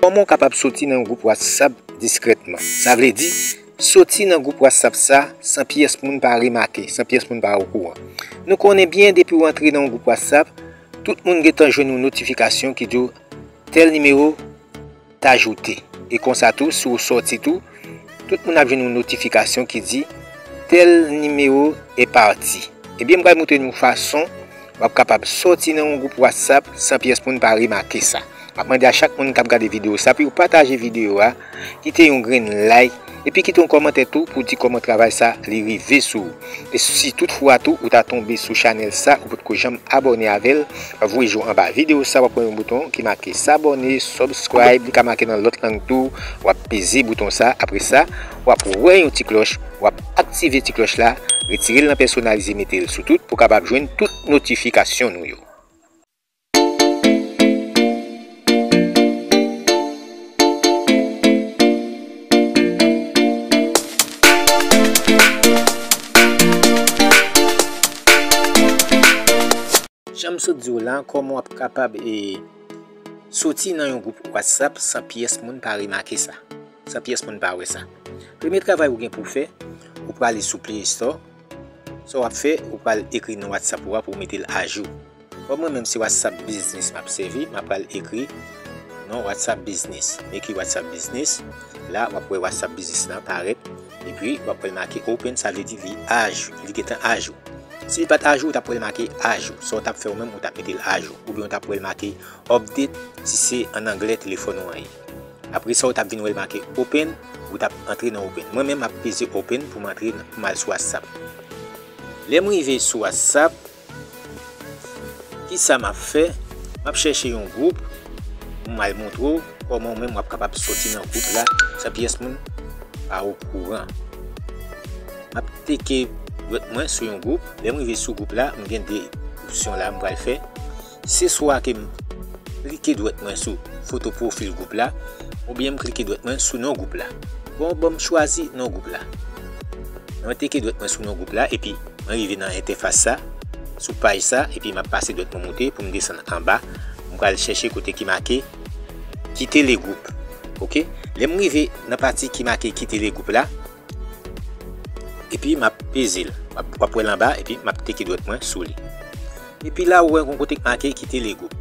Kòman w kapab soti nan yon gwoup Whatsapp diskrètman? Sa vle di, soti nan gwoup Whatsapp sa san pyès moun pa remake, san pyès moun pa okouran. Nou konnen byen depi w antre nan yon gwoup Whatsapp, tout moun gentan jwenn yon notifikasyon ki di w tèl nimewo, t'ajoute e konsa tou si w sòti tou tout moun ap jwenn yon notifikasyon ki di tèl nimewo e pati ebyen m pral moutre nou fason wap kapab sòti nan yon gwoup whatsapp san pyès moun pa remake sa map mande a chak moun kap gade video sa pou yo pataje video a kite yon grenn like. Epi kite yon kòmantè tou pou di kòman travay sa li rive sou ou. E si tout fwa tou ou ta tonbe sou chanèl sa ou potko janm abòne avèl, voye je w anba videyo sa wap wè yon bouton ki make s'abonner, subscribe, li ka make nan lòt lang tou, wap peze bouton sa apre sa wap wè yon ti klòch wap aktive ti klòch la, retire l nan pèsonalize mete l sou tout pou kapab jwenn tout notifikasyon nou yo. Janm sot diw la, koman wap kapab e soti nan yon gwoup WhatsApp san pyès moun pa remake sa, san pyès moun pa wè sa. Premye travay ou gen pou fè, ou prale sou play store. Sa wap fè ou pral ekri non whatsapp ou a pou metel ajou kom mwen menm se whatsapp business map sèvi map pral ekri non whatsapp business m ekri whatsapp business la wap wè whatsapp business lan parèt epi wap wèl make open sa vle di li ajou li gentan ajou sil pat ajou ou tap wèl make ajou sa ou tap fè ou menm ou tap metel ajou oubyen ou tap wèl make update si se an anglè telefòn ou an ye. Apre sa ou tap vin wèl make open ou tap antre nan open mwen menm map peze open poum antre poum al sou whatsapp lèm rive sou whatsapp kisa map fè map chèche yon group poum al montre w kòman ou menm wap kapab soti nan group la san pyès moun pa okouran map teke mwen sou yon group lèm rive sou group la mgen 2 opsyon la m pral fè. Se swa ke m klike dwèt mwen sou foto pwofil gwoup la oubyen m klike dwèt mwen sou non gwoup la. Bon, bon m chwazi non gwoup la. Mwen teke dwèt mwen sou non gwoup la epi mwen rive nan entèfas sa, sou paj sa epi m ap pase dwèt mwen moute pou m desann anba. M pral chèche kote ki make Kite le groupe. Ok. Lè m rive nan pati ki make Kite le groupe la. Epi map pezil. Wap wèl anba epi map teke dwèt mwen sou li. Epi la ou wè gon kote k make kite le group.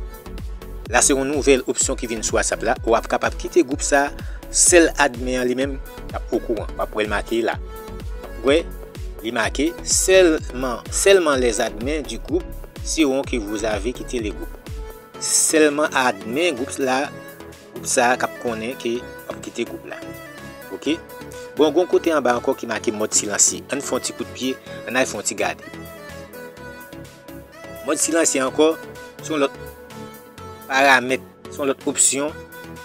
La se yon nouvèl opsyon ki vin sou whatsapp la ou ap kapab kite group sa sèl admin an li menm kap okouran. Wap wèl make la. Wap wè li make sèlman sèlman les admins du groupe seront que vous avez quitté le groupe. Sèlman admin group la. Sa a kap konnen ke wap kite gwoup la ok. Bon gon kote anba ankò ki make mòd silansye ann fon ti kout pye ann al fon ti gade. Mòd silansye ankò son lòt paramèt son lòt opsyon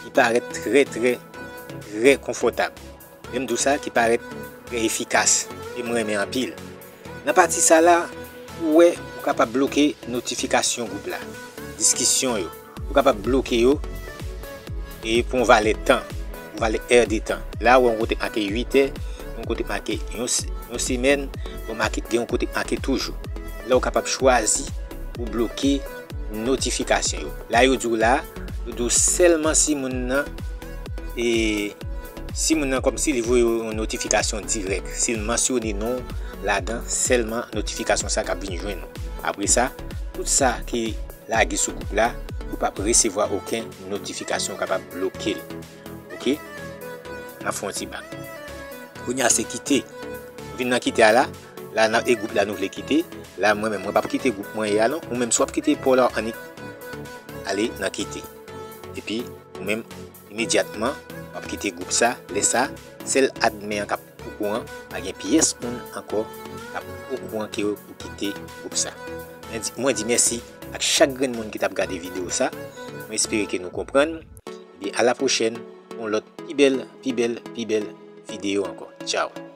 ki parèt trè trè trè konfòtab. Menm dous la ki parèt trè efikas e m renmen anpil. Nan pati sa la, ou wè ou kapab bloke notifikasyon gwoup la, diskisyon yo, ou kapab bloke yo e pou yon valè tan, yon valè è de tan. La ou wè yon kote k make 8 è, gen yon kote k make yon semèn, gen yon kote k make tou jou. La ou kapab chwazi pou bloke. Notification yo la yo diw la yo diw selman si moun nan e si moun nan komsi li voye yon notification direk sil mansyone non ladan selman notification sa kap vin jwenn ou apre sa tout sa ki lage sou gwoup la ou pap resevwa oken notification kapab blokel ok nap fon ti bak kounya se kite vin nan kite a la. La nan e group la nou vle kite la mwen menm mwen pap kite group mwen ye a non ou menm si wap kite paw la annik ale nan kite epi ou menm imedyatman wap kite group sa lè sa sèl admin an kap okouran pa gen pyès moun ankò kap okouran ke ou kite group sa mwen di mèsi ak chak grenn moun ki tap gade video sa mwen espere ke nou konprann ebyen a la pwochèn pou yon lòt pi bèl pi bèl pi bèl video ankò tchaww.